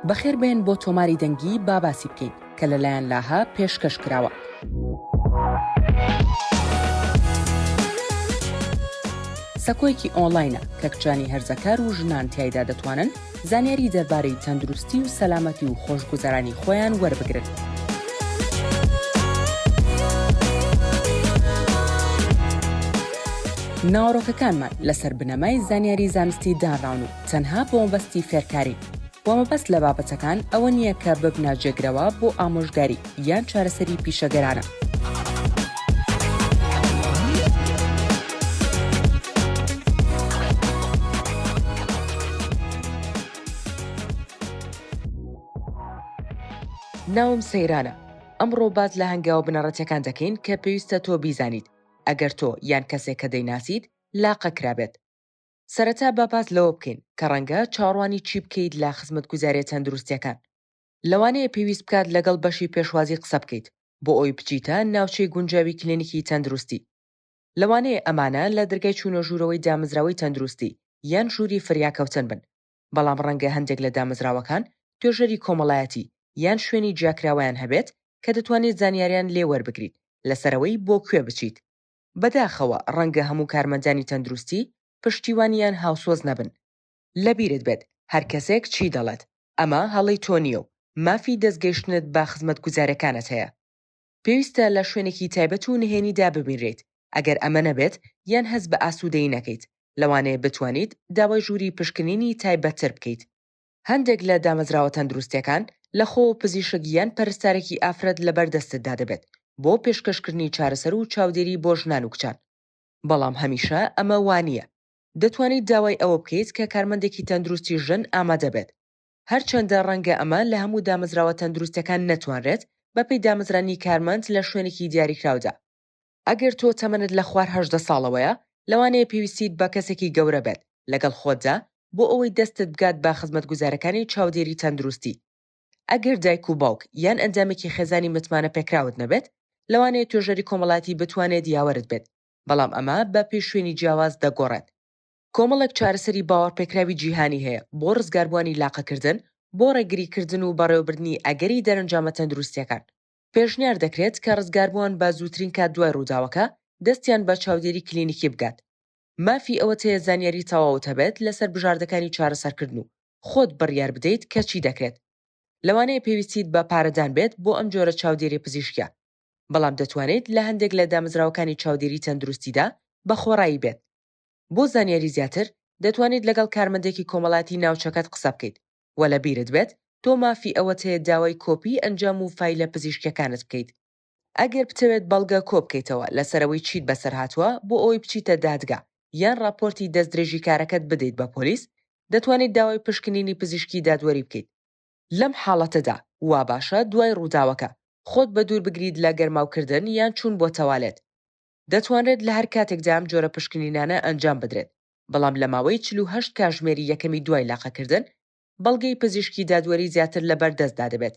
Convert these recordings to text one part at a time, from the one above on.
بەخێر بێن بۆ تۆماری دەنگی با باسی بکەین کە لەلایەن لاهە پێشکەش کراوە. سەکۆیەکی ئۆنلاینە کە کچانی هەرزەکار و ژنان تایدا دەتوانن زانیاری دەربارەی تەندروستی و سەلامەتی و خۆشگوزەرانی خۆیان وەربگرن. ناوەڕۆکەکانمان لەسەر بنەمای زانیاری زانستی دانراون و تەنها بۆ مەبەستی فێرکارین و مەبەست لە بابەتەکان ئەوە نییە کە ببنە جێگرەوە بۆ ئامۆژگاری یان چارەسەری پیشەگەرانە. ناوم سەیرانە ئەمڕۆ باس لە هەنگاوە بنەڕەتیەکان دەکەین کە پێویستە تۆ بیزانیت ئەگەر تۆ یان کەسێک کە دەیناسیت لاقە کرابێت سەرەتا با باس لەوە بکەین کە ڕەنگە چاڕوانی چی بکەیت لە خزمەتگوزاریە تەندروستیەکان لەوانەیە پێویست بکات لەگەڵ بەشی پێشوازی قسە بکەیت بۆ ئەوی بچیتە ناوچەی گونجاوی کلینیکی تەندروستی لەوانەیە ئەمانە لە درگای چوونە ژوورەوەی دامەزراوەی تەندروستی یان ژووری فریاکەوتن بن بەڵام ڕەنگە هەندێک لە دامەزراوەکان توێژەری کۆمەڵایەتی یان شوێنی جیاکراوەیان هەبێت کە دەتوانیت زانیاریان لێ وەربگریت لەسەر ئەوەی بۆ کوێ بچیت. بەداخەوە ڕەنگە هەموو کارمەندانی تەندروستی پشتیوانی یان هاوسۆز نەبن. لەبیرت بێت هەر کەسێک چی دەڵێت ئەمە هەڵەی تۆ نییە و مافی دەستگەیشتنت بە خزمەتگوزاریەکانت هەیە. پێویستە لە شوێنێکی تایبەت و نهێنیدا ببینرێیت، ئەگەر ئەمە نەبێت یان هەست بە ئاسوودەیی نەکەیت، لەوانەیە بتوانیت داوای ژووری پشکنینی تایبەتتر بکەیت. هەندێک لە دامەزراوە تەندروستییەکان لەخۆوە پزیشک یان پەرستارێکی ئافرەت لەبەر دەستتدا دەبێت بۆ پێشکەشکردنی چارەسەر و چاودێری بۆ ژنان و کچان، بەڵام هەمیشە ئەمە وا نییە. دەتوانیت داوای ئەوە بکەیت کە کارمەندێکی تەندروستی ژن ئامادە بێت. هەرچەندە ڕەنگە ئەمە لە هەموو دامەزراوە تەندروستەکان نەتوانرێت، بەپێی دامەزرانی کارمەند لە شوێنێکی دیاریکراودا. ئەگەر تۆ تەمەنت لە خوار هەژدە ساڵەوەیە، لەوانەیە پێویستیت بە کەسێکی گەورە بێت لەگەڵ خۆتدا بۆ ئەوەی دەستت بگات بە خزمەتگوزارەکانی چاودێری تەندروستی. ئەگەر دایک و باوک یان ئەندامێکی خێزانی متمانەپێکراوت نەبێت، لەوانەیە توێژەری کۆمەڵایەتی بتوانێت یاوەرت بێت، بەڵام ئەمە بەپێی شوێنی جیاواز دەگۆڕێت. کۆمەڵێک چارەسەری باوەڕپێکراوی جیهانی هەیە بۆ ڕزگاربووانی لاقەکردن، بۆ ڕێگریکردن و بەڕێوەبردنی ئەگەری دەرەنجامە تەندروستییەکان. پێشنیار دەکرێت کە ڕزگاربووان بە زووترین کات دوای ڕووداوەکە دەستیان بە چاودێری کلینیکی بگات. مافی ئەوەت هەیە زانیاری تەواوت هەبێت لەسەر بژاردەکانی چارەسەرکردن و خۆت بڕیار بدەیت کە چی دەکرێت. لەوانەیە پێویستیت بە پارەدان بێت بۆ ئەم جۆرە چاودێری پزیشکییە، بەڵام دەتوانیت لە هەندێک لە دامەزراوەکانی چاودێری تەندروستیدا بە خۆڕایی بێت. بۆ زانیاری زیاتر دەتوانیت لەگەڵ کارمەندێکی کۆمەڵایەتی ناوچەکەت قسە بکەیت وە لە بیرت بێت تۆ مافی ئەوەت هەیە داوای کۆپیی ئەنجام و فایلە پزیشکیەکانت بکەیت ئەگەر بتەوێت بەڵگە کۆ بکەیتەوە لەسەر ئەوەی چیت بەسەر هاتووە بۆ ئەوەی بچیتە دادگا یان ڕاپۆرتی دەستدرێژیکارەکەت بدەیت بە پۆلیس دەتوانیت داوای پشکنینی پزیشکی دادوەری بکەیت لەم حاڵەتەدا واباشە دوای ڕووداوەکە خۆت بەدوور بگریت لە گەرماوکردن یان چوون بۆ تەوالێت. دەتوانرێت لە هەر کاتێکدا ئەم جۆرە پشکنینانە ئەنجام بدرێت، بەڵام لە ماوەی چل و هەشت کاژمێری یەکەمی دوای لاقەکردن، بەڵگەی پزیشکی دادوەری زیاتر لە بەردەستدا دەبێت.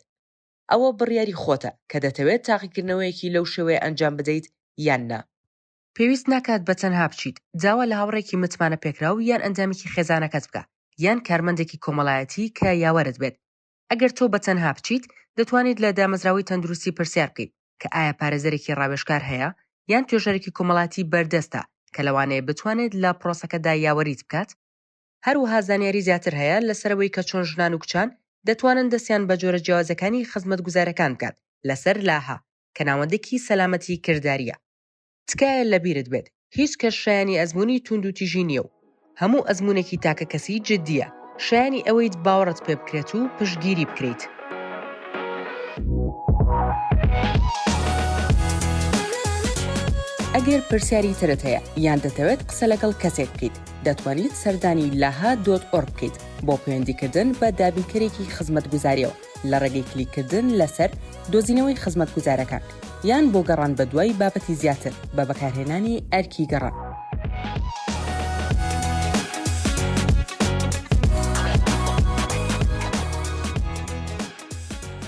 ئەوە بڕیاری خۆتە کە دەتەوێت تاقیکردنەوەیەکی لەو شێوەیە ئەنجام بدەیت یان نا. پێویست ناکات بە تەنها بچیت داوا لە هاوڕێکی متمانەپێکراو یان ئەندامێکی خێزانەکەت بکە یان کارمەندێکی کۆمەڵایەتی کە یاوەرت بێت ئەگەر تۆ بە تەنها بچیت، دەتوانیت لە دامەزراوەی تەندروستی پرسیار بکەیت کە ئایا پارێزەرێکی ڕاوێژکار هەیە یان توێژەرێکی کۆمەڵایەتی بەردەستە کە لەوانەیە بتوانێت لە پرۆسەکەدا یاوەریت بکات، هەروەها زانیاری زیاتر هەیە لەسەر ئەوەی کە چۆن ژنان و کچان دەتوانن دەستیان بە جۆرە جیاوازەکانی خزمەتگوزارەکان بگات لەسەر لاهە، کە ناوەندێکی سەلامەتی کردارییە. تکایە لەبیرت بێت هیچ کەس شایانی ئەزمونی توند و تیژی نییە و هەموو ئەزمونێکی تاکە کەسی جددیە شایانی ئەوەیت باوەڕت پێ بکرێت و پشتگیری بکریت. ئەگەر پرسیاری ترت هەیە یان دەتەوێت قسە لەگەڵ کەسێک بکەیت دەتوانیت سەردانی لاها دۆت ئۆرگ بکەیت بۆ پەیوەندیکردن بە دابینکەرێکی خزمەتگوزاریەوە لە ڕێگەی کلیککردن لەسەر دۆزینەوەی خزمەتگوزارەکان، یان بۆ گەڕان بەدوای بابەتی زیاتر بە بەکارهێنانی ئەرکی گەڕان.